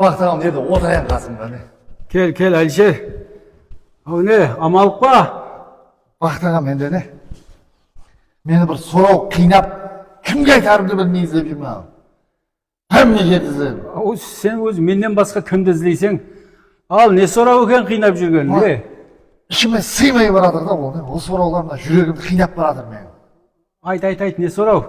Maqtaǵan edi otayın qasımda ne. Kel kel Alisher aw ne amalıq pa. Maqtaǵan mende ne. Meni bir soraw qıynap kimge aytarımdı bilmey izlep júrmen aw. Hámme jerdi izledim. Aw sen ózi mennen basqa kimdi izleyseń al ne soraw eken qıynap júrgen ne. Ishime sıymay baratır da ol ne ol sorawlar mına júregimdi qıynap baratır meniń. Ayt ayt ayt ne soraw.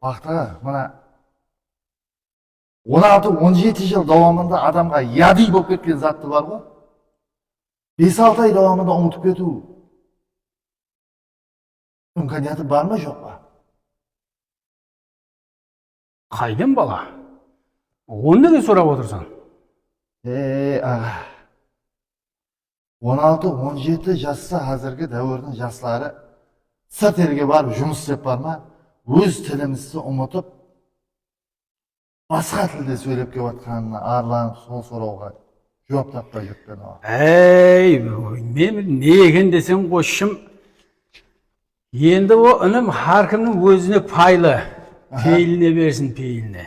Maqtaǵan mına. On altı, on jeti jıl dawamında adamǵa yadiy bolıp ketken zattı barǵo, bes-altı ay dawamında umıtıp ketiw imkaniyatı bar ma joq pa? Qaydan bala? Onı nege sorap otırsań? Ey, aǵa. On altı, on jeti jassa házirgi dáwirdiń jasları sırt elge barıp jumıs islep barma, óz tilimizdi umıtıp, basqa tilde sóylep kep atqanına arlanıp sol sorawǵa juwap tappay júrtpen oǵan. Áy, meni ne eken deseń qosshım, endi o inim hár kimniń ózine paylı, peyline bersin, peyline.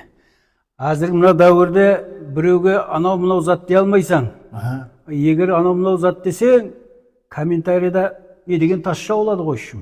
Házirgi mına dáwirde birewge anaw-mınaw zat dey almaysań. Eger anaw-mınaw zat deseń, kommentariyada ne degen tasha boladı qosshım.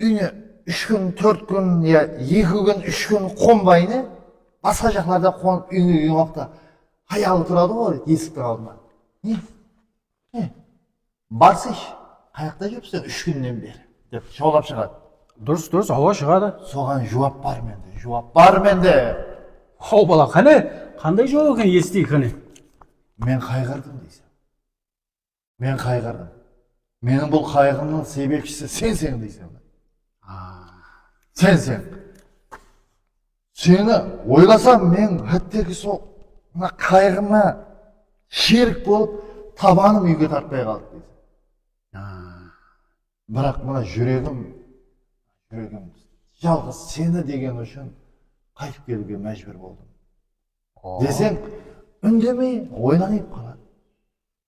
Úyine úsh kún, tórt kún ya eki kún, úsh kún qonbayını basqa jaqlarda qonıp úyine kelgen waqıtta hayalı turadı ǵo esiktiń aldında. Ne? Ne? Barsısh, qayaqta júrip sen úsh kúnnen beri? dep jawlap shıǵadı. Durıs, durıs, awa shıǵadı. Soǵan juwap bar mende, juwap bar mende! Haw bala, qáne, qanday juwap eken esiteyik qáne? Men qayǵırdım deyseń. Men qayǵırdım. Meniń bul qayǵımnıń sebepshisi senseń deyseń. Senseń. Seni oylasam, men hátteki sol mına qayǵıma sherik bolıp, tabanım úyge tartpay qaldı deyseń. Biraq mına júregim, júregim jalǵız seni degeni ushın qaytıp keliwge májbúr boldım. Deseń, úndemey oylaniıp qaladı.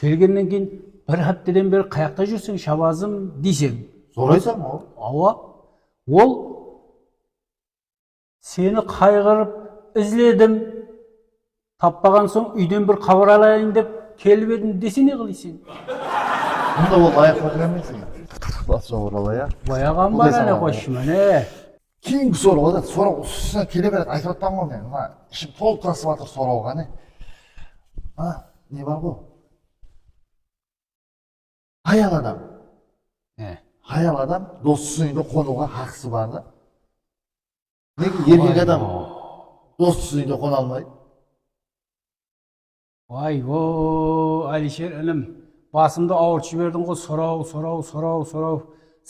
Kelgennen keyin bir hápteden beri qayaqta júrseń Shabazım deyseń. Soraysań ǵo. Awa. Ol Seni qayǵırıp izledim, tappaǵan soń úyden bir xabar alayın dep kelip edim dese ne qılıyseń? Onda ol layıqlı qız emes eken. Basıp jabıra alay a. Bayaǵan bar áne qoshshı, máne. Keyingi soraw ǵa zat soraw usına kele beredi aytıp atpaman ǵo men mına ishim tolıp tasıp atır soraw ǵa ne a ne bar ǵo hayal adam hayal adam dostısınıń uyında qonıwǵa haqısı bar da nege erkek adam dostısınıń uyında qona almaydı Vay o, Alisher inim, basımdı awırtıp jiberdiń ǵo, soraw, soraw, soraw, soraw.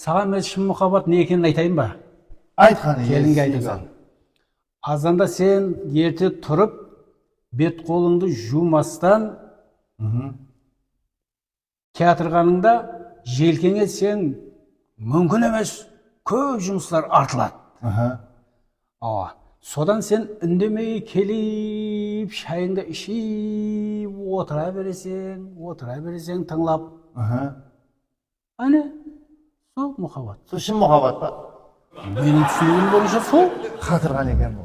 Saǵan men shın muxabbat ne ekenin aytayın ba? Ayt qani, kelinge aytasan. Azanda sen erte turıp, bet-qolıńdı juwmastan, Kiyatırǵanıńda jelkeń etseń múmkin emes, kóp jumıslar artıladı. Awa, sodan sen úndemey kelip shayıńdı iship otıra bereseń, otıra bereseń tıńlap. Áne, sol muxabbat. Sol shın muxabbat pa? Meniń túsinigim boyınsha sol. Qatırǵan eken bul.